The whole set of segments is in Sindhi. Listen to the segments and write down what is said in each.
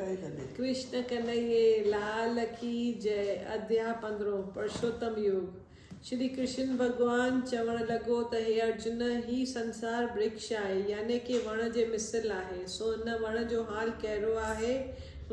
ڪرشن ڪنهيي لال ڪي جئه اديا پندرهون پرشوتم يوگ شري ڪرشن ڀڳوان چوڻ لڳو ته هي ارجن هي سنسار برڪش آهي يعني ڪي وڻ جي مثل آهي سو هن وڻ جو حال ڪهڙو آهي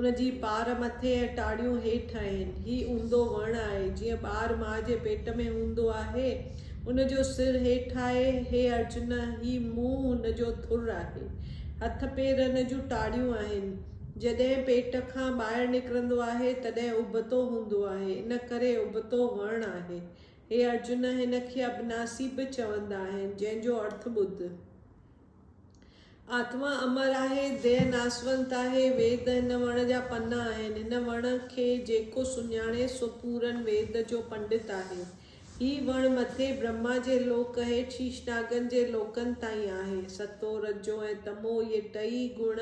ان جي پار مٿي ۽ ٽاڙيون هيٺ آهن هي اونڌو وڻ آهي جيئن ٻار ماء جي پيٽ ۾ هوندو آهي ان جو سر هيٺ آهي. هي ارجن! هي منهن هن جو ٿر آهي. هٿ پير هن جون ٽاڙيون آهن. جڏهن پيٽ کان ٻاهر نڪرندو آهي، تڏهن ابتو هوندو آهي. ان ڪري ابتو وڻ آهي. هي ارجن! هن کي ابناسي به چوندا آهن، جنهن جو ارٿ ٻڌ. آتما امر آهي، ديهه ناسونت آهي، ويد هن وڻ جا پنا آهن، هن وڻ کي جيڪو سڃاڻي سو پورن ويد جو پنڊت آهي. هي وڻ مٿي برهما جي لوڪ هيٺ شيشناگن جي لوڪن تائين آهي. ستو، رجو ۽ تمو اهي ٽئي گڻ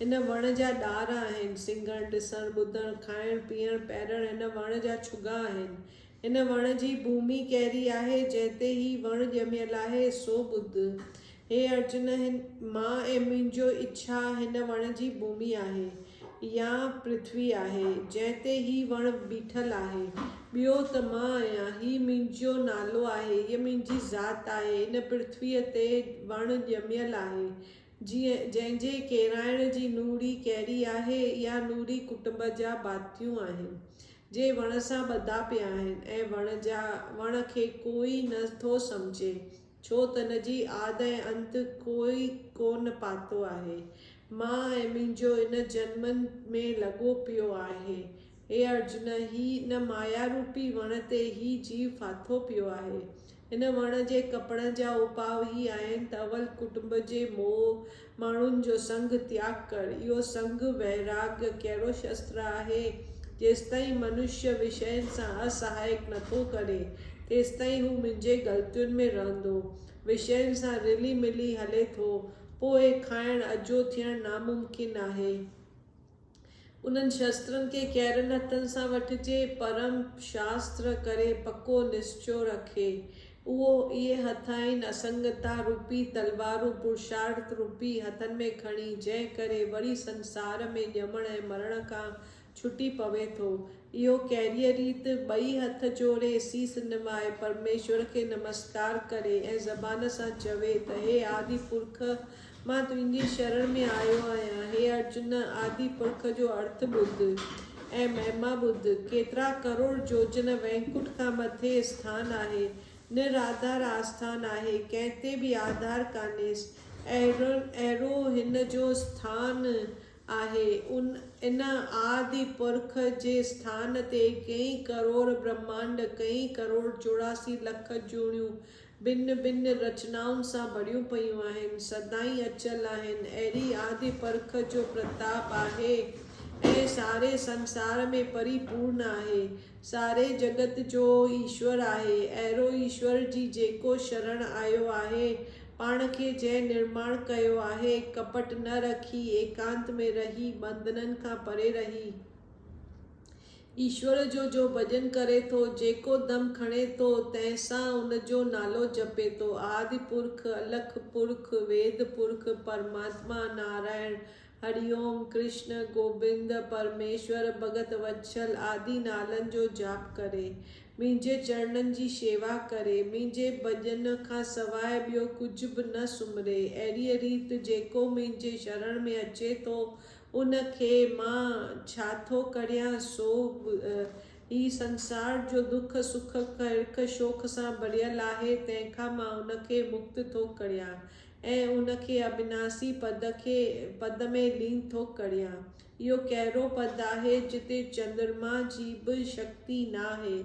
هن وڻ جا ڏار آهن. سنگهڻ، ڏسڻ، ٻڌڻ، کائڻ، پيئڻ، پيرڻ هن وڻ جا ڇڳا آهن. ان وڻ جي ڀومي ڪهڙي آهي، جنهن تي هي وڻ ڄميل آهي، سو ٻڌ. هي ارجن، هن، مان ۽ منهنجو اڇا هن وڻ جي ڀومي آهي، يا پرٿوي آهي، جنهن تي هي وڻ بيٺل آهي. ٻيو ته مان آهيان، هي منهنجو نالو آهي، هيء منهنجي ذات آهي، هن پرٿويء تي وڻ ڄميل آهي، جنهن جي ڪيرائڻ جي نوڙي ڪهڙي آهي؟ اها نوڙي ڪٽنب جا ڀاتيون آهن، جي وڻ سان ٻڌا پيا آهن ۽ وڻ جا وڻ کي ڪوئي نه ٿو سمجهي، ڇو تن جي آد ۽ انت ڪوئي ڪونه پاتو آهي. مان ۽ منهنجو ان جنم ۾ لڳو پيو آهي. اي ارجن! هي ان مايا روپي وڻ تي هي جيو ڦاٿو پيو آهي. هن وڻ جي ڪپڻ جا اپاء هي آهن ته اول ڪٽنب جي موهه، ماڻهن جو سنگ، تياڳ ڪر. اهو سنگ، ويراگيه، ڪهڙو شستر آهي؟ جيستائين منشيه وشين سان اسهائڪ نٿو ڪري، تيستائين هو منهنجي غلطين ۾ رهندو، وشين سان رلي ملي هلي ٿو، پوء کانئن اجهو ٿيڻ ناممڪن آهي. انهن شسترن کي ڪهڙن هٿن سان وٺجي، پرم شاستر ڪري پڪو نسچو رکي، اهو اهي هٿ آهن، اسنگتا روپي تلوارون، پرشارٿ روپي هٿن ۾ کڻي، جنهن ڪري وري سنسار ۾ ڄمڻ ۽ مرڻ کان ڇٽي پوي ٿو. اهو ڪهڙيء ريت، ٻئي هٿ جوڙي، سيس نوائي، پرميشور کي نمسڪار ڪري ۽ زبان سان چوي ته، هي آدي پرک مان تنهنجي شرڻ ۾ آيو آهيان. هي ارجن! آدي پرک جو ارٿ ٻڌ ۽ مهما ٻڌ. ڪيترا ڪروڙ جوجن وينڪٽ کان مٿي اسٿان آهي. نراڌار آسٿان آهي. ڪنهن تي به آڌار ڪانهيس. اهڙو هن جو اسٿان آهي. ان آدي پرک جي اسٿان تي ڪئين ڪروڙ برهمانڊ، ڪئين ڪروڙ چوراسي لک جوڻيون ڀن ڀن رچنائن سان ڀريون پيون آهن، سدائين اچل آهن، اهڙي آڌي پرک جو پرتاپ آهي ۽ ساري سنسار ۾ پري پورن آهي. ساري جڳت جو ايشور آهي، اهڙو ايشور جي جيڪو شرڻ آيو آهي، پاڻ کي جنهن نرماڻ ڪيو آهي، ڪپٽ نه رکي، ايڪانت ۾ رهي، ٻنڌنن کان پري رهي، ايشور جو جو ڀڄن ڪري ٿو، جيڪو دم کڻي ٿو، تنهن سان ان جو نالو جپي ٿو، آدي پرک، الک پرک، ويد پرک، پرماتما، نارائڻ، هري اوم، ڪرشن، گوبند، پرميشور، ڀڳت وتسل آدي نالن جو جاپ ڪري، منهنجي چرڻن جي شيوا ڪري، منهنجي ڀڄن کان سواء ٻيو ڪجهه به نه سمري، اهڙيء ريت جيڪو منهنجي شرڻ ۾ اچي ٿو، ان کي مان ڇا ٿو ڪريان سو هي سنسار جو دک سک ڪرڪ شوخ سان ڀريل آهي تنهن کان مان ان کي مڪت ٿو ڪريان ۽ ان کي اڀناسي پد کي پد ۾ لين ٿو ڪريان اهو ڪهڙو پد آهي جتي چندرما جي به شڪتي ناهي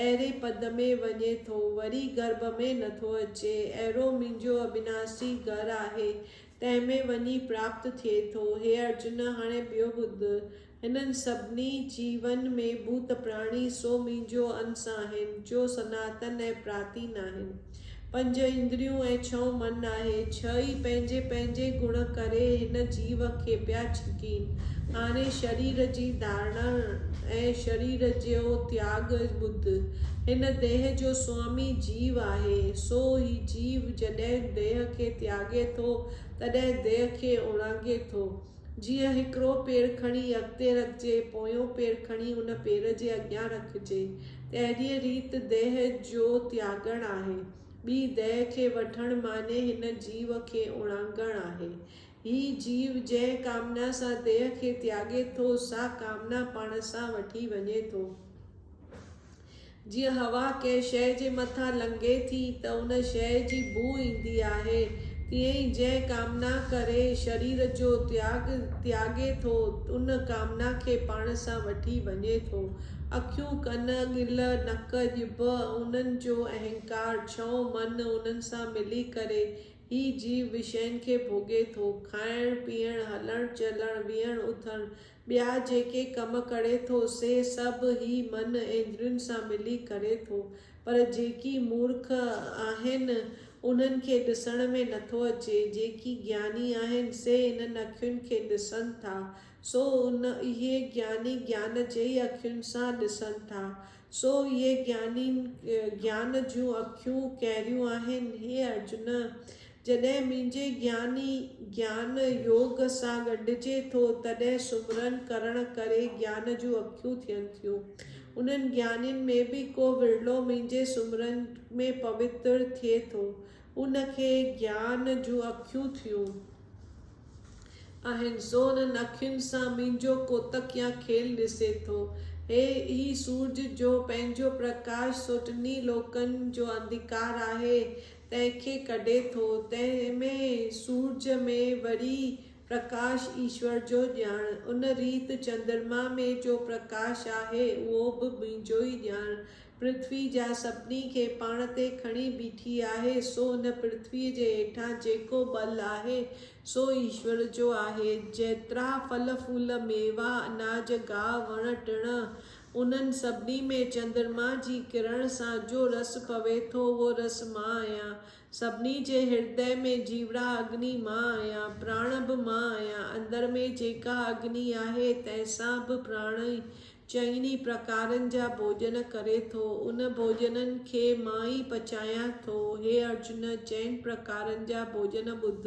اهڙي پد ۾ وڃي ٿو، وري گرڀ ۾ نٿو اچي، اهڙو منهنجو اڀناسي گهر آهي، تنهن ۾ وڃي پراپت ٿئي ٿو. هي ارجن! هاڻي ٻيو ٻڌ، هنن سڀني جيون ۾ ڀوت پراڻي، سو منهنجو انس آهن، جو سناتن ۽ پراتين آهن. پنج اندريون ۽ ڇهون من آهي. ڇهه ئي پنهنجي پنهنجي گڻ ڪري هن جيو کي پيا ڇڪين. هاڻي شرير جي ڌارڻا ۽ شرير جو تياڳ ٻڌ. هن ديهه جو سوامي جيو آهي. سو هي جيو جڏهن ديهه کي تياڳي ٿو، تڏهن ديهه کي اڻانگي ٿو. جيئن هڪڙو پير کڻي اڳتي رکجي، پويون پير کڻي ان پير جي اڳيان رکجي، تهڙيء ريت ديهه جو تياڳڻ آهي. ٻي ديهه کي وٺڻ معني هن جيو کي اڻانگڻ آهي. هي جيو جنهن ڪامنا سان ديهه کي تياڳي ٿو، سا ڪامنا پاڻ سان وٺي وڃي ٿو. جيئن هوا ڪنهن شيء جي مٿان لنگهي ٿي ته ان شيء جي بوء ايندي آهي، تيئن ئي جنهن ڪامنا ڪري شرير جو تياڳ تياڳي ٿو، ان ڪامنا کي پاڻ سان وٺي وڃي ٿو. اکيون، ڪن، ڳل، نڪ، ڄڀ انهن جو اهنڪار، ڇهون من، انهن سان ملي ڪري هي جيو وشين کي ڀوڳي ٿو. کائڻ، پيئڻ، هلڻ، چلڻ، ويهڻ، اٿڻ، ٻيا جيڪي ڪم ڪري ٿو سي سڀ هي من ايندرين سان ملي ڪري ٿو پر جيڪي مورک آهن انهن کي ڏسڻ ۾ نٿو اچي جيڪي گياني آهن سي انهن اکين کي ڏسن ٿا سو ان اهي گياني گيان جي ئي اکين سان ڏسن ٿا سو اهي گيانين گيان جون اکيون ڪهڙيون آهن هي ارجن جڏهن منهنجي گياني گيان يوگ سان ڳنڍجي ٿو، تڏهن سمرن ڪرڻ ڪري گيان جون اکيون ٿين ٿيون. انهن گيانين ۾ به ڪو ورلو منهنجي سمرن ۾ پوتر ٿئي ٿو. ان کي گيان جون اکيون ٿيون. آهن، سو انهن اکين سان منهنجو ڪوتڪ يا کيل ڏسي ٿو. هي ئي سورج جو پنهنجو پرڪاش سو ٽنهي لوڪن جو انڌڪار آهي. تنهن کي ڪڍي ٿو، تنهن ۾ سورج ۾ وري پرڪاش ايشور جو ڄاڻ، ان ريت چندرما ۾ جو پرڪاش آهي، اهو به منهنجو ئي ڄاڻ، پرٿوي جا سڀني کي پاڻ تي کڻي بيٺي آهي، سو ان پرٿويء جي هيٺان جيڪو ٻل آهي، سو ايشور جو آهي، جيترا ڦل ڦول، ميوا، اناج، گاهه، وڻ ٽڻ، انهن سڀني ۾ چندرما جي ڪرڻ سان جو رس پوي ٿو اهو رس مان آهيان. سڀني جي هردئ ۾ جيوڙا اگني مان آهيان، پراڻ به مان آهيان. اندر ۾ جيڪا اگني آهي تنهن سان به پراڻ ئي چئن ئي پرڪارن جا ڀوڄن ڪري ٿو. ان ڀوڄنن کي مان ئي پچايان ٿو. هي ارجن! چئن پرڪارن جا ڀوڄن ٻڌ.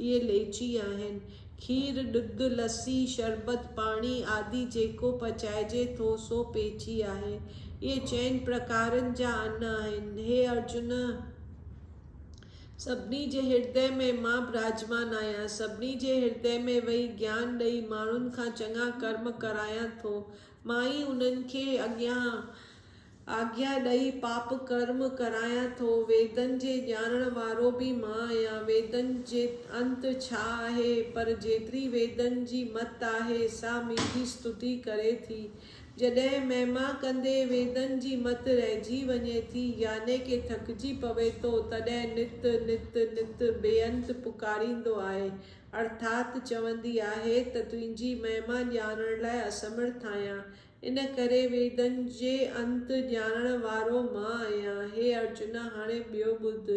اهي ليچي آهن. کير، ڏڌ، لسي، شربت، پاڻي آدي جيڪو پچائجي ٿو سو پيچي آهي. اهي چئن پرڪارن جا ان آهن. هي ارجن! سڀني جي هردي ۾ مان براجمان آهيان. سڀني جي هردي ۾ ويهي گيان ڏئي ماڻهن کان چڱا ڪرم ڪرايان ٿو. مان ئي انهن کي اڳيان آگيا ڏئي پاپ ڪرم ڪرايان ٿو. ويدن جي ڄاڻڻ وارو به مان آهيان. ويدن جي انت ڇا آهي؟ پر جيتري ويدن جي مت آهي، سا منهنجي استتي ڪري ٿي. جڏهن مهما ڪندي ويدن جي مت رهجي وڃي ٿي، يعني ڪي ٿڪجي پوي ٿو، تڏهن نت، نت، نت بي انت پڪاريندو آهي، ارٿات چوندي آهي ته تنهنجي مهما ڄاڻڻ لاء اسمرٿ آهيان، ان ڪري ويدن جي انت ڄاڻڻ وارو مان آهيان. هي ارجنا! هاڻي ٻيو ٻڌ.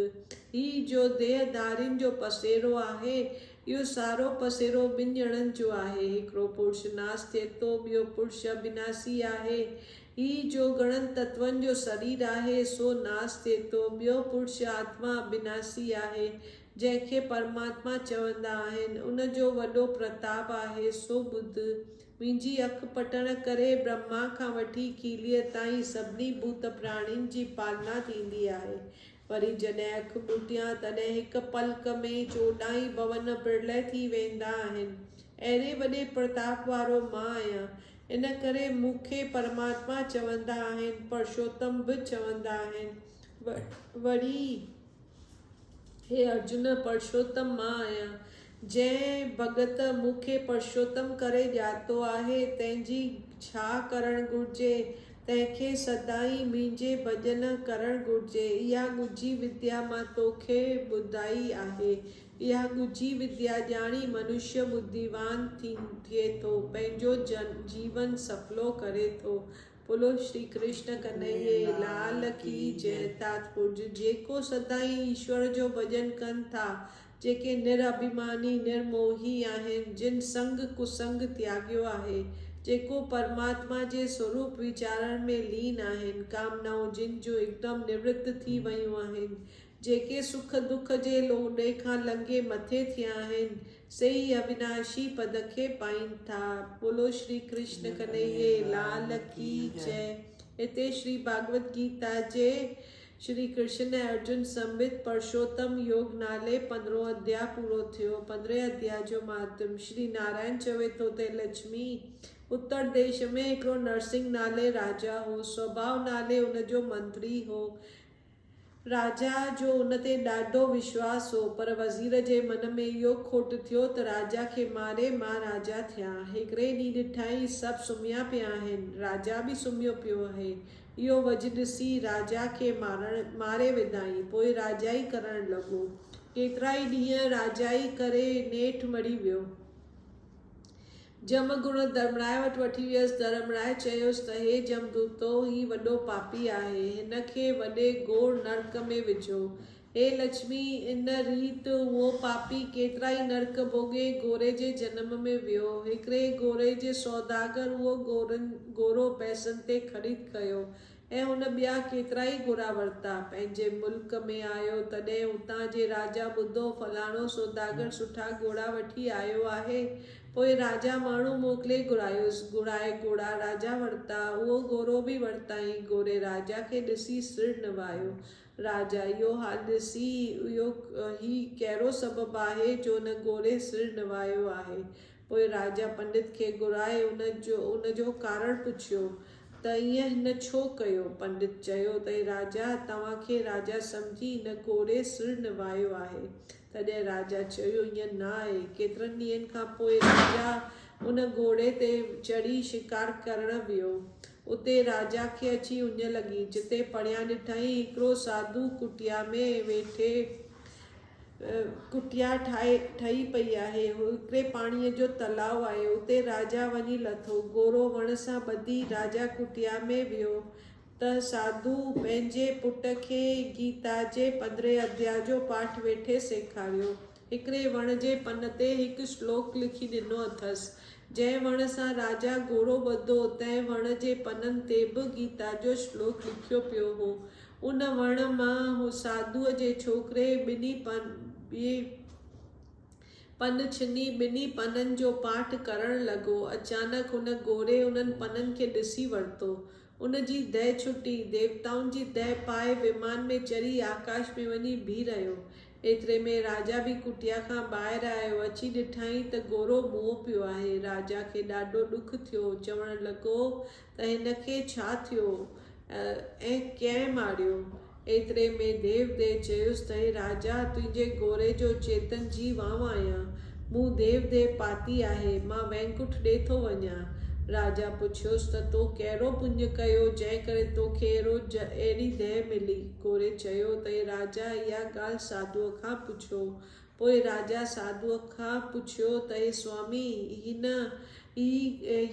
هي جو ديهه ڌارين جو پسيرو آهي، اهو سارو پسيرو ٻن ڄڻن جو آهي. هڪڙو پرش ناس ٿئي ٿو، ٻيو پرش اڀيناسي آهي. هي جو گڻن تتون جو سرير آهي، سو ناس ٿئي ٿو. ٻيو پرش آتما اڀيناسي آهي، جنهن کي پرماتما چوندا آهن، ان جو وڏو پرتاپ آهي، سو ٻڌ. منهنجي اک پٽڻ ڪري برهما کان وٺي ڪيليء تائين سڀني ڀوت پراڻين جي پالنا ٿيندي آهي. وري جڏهن اک ٻوٽيان، تڏهن هڪ پلڪ ۾ ئي چوڏهن ئي ڀون پرلئه ٿي ويندا آهن. اهڙي وڏي پرتاپ وارو مان آهيان. ان ڪري مون کي پرماتما چوندا آهن، پرشوتم به چوندا آهن. وري. هي ارجن! پرشوتم مان آهيان. جنهن ڀڳت مون کي پرشوتم ڪري ڄاتو آهي، تنهن جي ڇا ڪرڻ گهرجي؟ تنهن کي سدائين منهنجي ڀڄن ڪرڻ گهرجي. اها ڳجهي وديا مان تو کي ٻڌائي آهي. اها ڳجهي وديا ڄاڻي منشيه ٻڌيوان ٿئي ٿو، پنهنجو جيون سڦلو ڪري ٿو، بولو شري ڪرشن ڪنهيي لال ڪي جئه تات پورج جيڪو سدائين ايشور جو ڀڄن ڪن ٿا جيڪي نر اڀيماني نر موهي آهن جن سنگ ڪسنگ تياڳيو آهي جيڪو پرماتما جي سوروپ ويچارڻ ۾ لين آهن ڪامنائون جن جون هڪدم نورت ٿي ويون آهن جيڪي سک دک جي لوڏي کان لنگهي مٿي ٿيا آهن، سي ئي اويناشي پد کي پائين ٿا. ٻولو شري ڪرشن ڪنهيي لال ڪي جئه. هتي شري ڀاڳوت گيتا جي شري ڪرشن ۽ ارجن سميت پرشوتم يوگ نالي پندرهون اڌيا پورو ٿيو. پندرهين اڌيا جو مهاتم، شري نارائڻ چوي ٿو ته لڇمي اتر ديش ۾ هڪڙو نرسنگ نالي راجا هو. سوڀاو نالي ان جو منتري هو. راجا جو ان تي ڏاڍو وشواس هو، پر وزير جي من ۾ اهو کوٽ ٿيو ته راجا کي ماري مان راجا ٿيان. هڪڙي ڏينهن ڏٺائين سڀ سمهيا پيا آهن، راجا به سمهيو پيو آهي. اهو وجهه ڏسي راجا کي مارڻ ماري وڌائين. پوء راجا ئي ڪرڻ لڳو. ڪيترائي ڏينهن راجا ئي ڪري نيٺ مري ويو. جم گهوڙو ڌرمرائي وٽ وٺي ويس. ڌرمرائي چيس ته هي جمدوتو، هي وڏو پاپي آهي، هن کي وڏي گهور نرڪ ۾ وجهو. هي لڇمي، ان ريت اهو پاپي ڪيترا ئي نرڪ ڀوڳي گهوري جي جنم ۾ ويو. هڪڙي گهوري جي سوداگر اهو گهورو پئسن تي خريد ڪيو. ۽ هن ٻيا ڪيترائي گهوڙا ورتا. پنهنجي ملڪ ۾ آيو، تڏهن اتان جي راجا ٻڌو، فلاڻو سوداگر سٺا گهوڙا وٺي آيو آهي. پوء راجا ماڻهو موڪلي گهرايس. گهرائي گهوڙا راجا ورتا. اهو گهوڙو به ورتائين. گهوڙي راجا کي ڏسي سر نوايو. راجا اهو حال ڏسي، اهو هي ڪهڙو سبب آهي، جو هن گهوڙي سر نوايو آهي. پوء راجا پنڊت کي گهرائي ان جو ان جو ڪارڻ پڇيو ته ائين هن ڇو ڪيو؟ پنڊت چيو ته اي راجا! توهان کي راجا سمجهي هن ڪوڙي سر نوهايو آهي. تڏهن راجا چيو ائين نه آهي. ڪيترن ڏينهن کان پوء راجا ان گهوڙي تي چڙهي شڪار ڪرڻ ويو. اتي راجا کي اچي اڃ لڳي، جتي پريان ڏٺائين هڪڙو ساڌو ڪٽيا ۾ ويٺي، ڪٽيا ٺاهي ٺهي پئي آهي. هڪڙي پاڻيء جو تلاء آهي. اتي راجا وڃي لٿو. گورو وڻ سان ٻڌي راجا ڪٽيا ۾ ويو ته ساڌوء پنهنجي پٽ کي گيتا جي پندرهين اديا جو پاٺ ويٺي سيکاريو. هڪڙي وڻ جي پن تي هڪ شلوڪ لکي ڏنو اٿس. جنهن وڻ سان راجا گورو ٻڌو، تنهن وڻ جي پنن تي به گيتا جو شلوڪ لکيو پيو هو. ان وڻ مان هو ساڌوء جي ڇوڪري ٻنهي پن ڇني ٻنهي پنن جو پاٺ ڪرڻ لڳو. اچانڪ هن گوري انهن پنن کي ڏسي ورتو. ان جي دهه ڇٽي. ديوتائن جي دهه پائي ومان ۾ چڙهي آڪاش ۾ وڃي بيهي رهيو. ايتري ۾ راجا به ڪٽيا کان ٻاهر آيو. اچي ڏٺائين ته گورو مئو پيو آهي. راجا کي ڏاڍو ڏک ٿيو. چوڻ لڳو ته هن کي ڇا ٿيو ۽ ڪنهن ماريو؟ ايتري ۾ ديوديء چيس ته اي راجا، تنهنجي گوري جو چيتن جي وانء آهيان. مون ديوديء پاتي آهي. مان وينڪٺ ڏي ٿو وڃان. راجا پڇيس ته تو ڪهڙو پڃ ڪيو، جنهن ڪري تو کي اهڙو اهڙي ديهه ملي؟ گوري چيو ته اي راجا، اها ڳالهه ساڌوء کان پڇو. پوء راجا ساڌوء کان پڇيو ته اي سوامي! هن ئي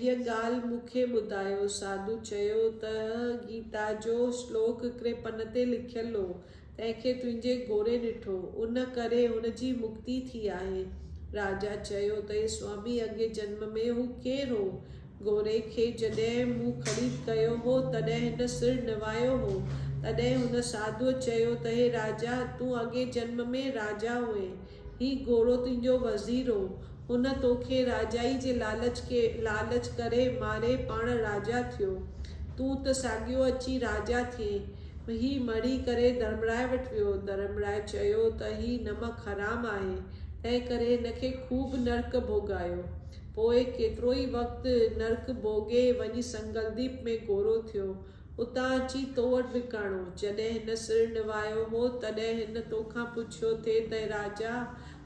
هيء ڳالهه مون کي ٻڌايو. ساڌوء چيو ته گيتا جو شلوڪ هڪڙي پن تي لکيل هو، تنهن کي تنهنجي گوري ڏٺو، ان ڪري هن جي مڪتي ٿي آهي. راجا چيو ته اي سوامي! اڳئين جنم ۾ هو ڪير هو؟ گوري کي جڏهن مون خريد ڪيو هو، تڏهن هن سر نوايو هو. تڏهن هن ساڌوء چيو ته هي راجا، تون اڳئين جنم ۾ راجا هئين. هي گورو تنهنجو وزير هو. هن تو کي راجائي جي لالچ کي لالچ ڪري ماري پاڻ راجا ٿيو. تون ته ساڳيو اچي راجا ٿئين. هي مڙي ڪري ڌرمرائي وٽ ويو. ڌرمرائي چيو ته هي نمڪ حرام آهي، تنهنڪري هن کي خوب نرڪ ڀوڳايو. پوء ڪيترو ئي وقت نرڪ ڀوڳي وڃي سنگلديپ ۾ گورو ٿيو. اتان اچي تو وٽ به ڪاڻو. جڏهن هن سر نوايو هو، تڏهن هن تو کان پڇيو ٿي ته اي راجا!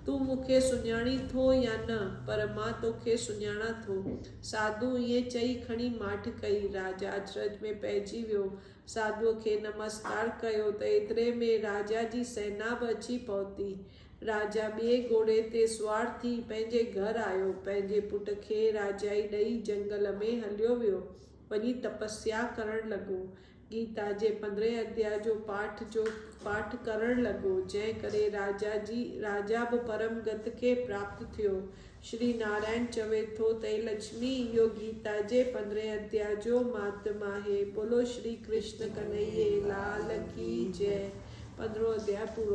تون مون کي سڃاڻين ٿو يا نه؟ پر مان تو کي سڃاڻان ٿو. ساڌوء ائين چئي کڻي ماٺ ڪئي. راجا اچرج ۾ پئجي ويو. ساڌوء کي نمسڪار ڪيو ته ايتري ۾ راجا جي سينا به اچي پهتي. راجا ٻئي گهوڙي تي سوار ٿي پنهنجي گهر آيو. پنهنجي پٽ کي راجائي ڏئي جنگل ۾ هليو ويو. وڃي تپسيا ڪرڻ لڳو. گيتا جي پندرهين اديا جو پاٺ جو پاٺ ڪرڻ لڳو. جنهن ڪري راجا جي راجا به پرم گت کي پراپت ٿيو. شري نارائڻ چوي ٿو ته اي لڇمي اهو گيتا جي پندرهين اديا جو مهاتم آهي. بولو شري ڪرشن ڪنهيي لال ڪي جئه. پندرهون اديا پورو ٿيو.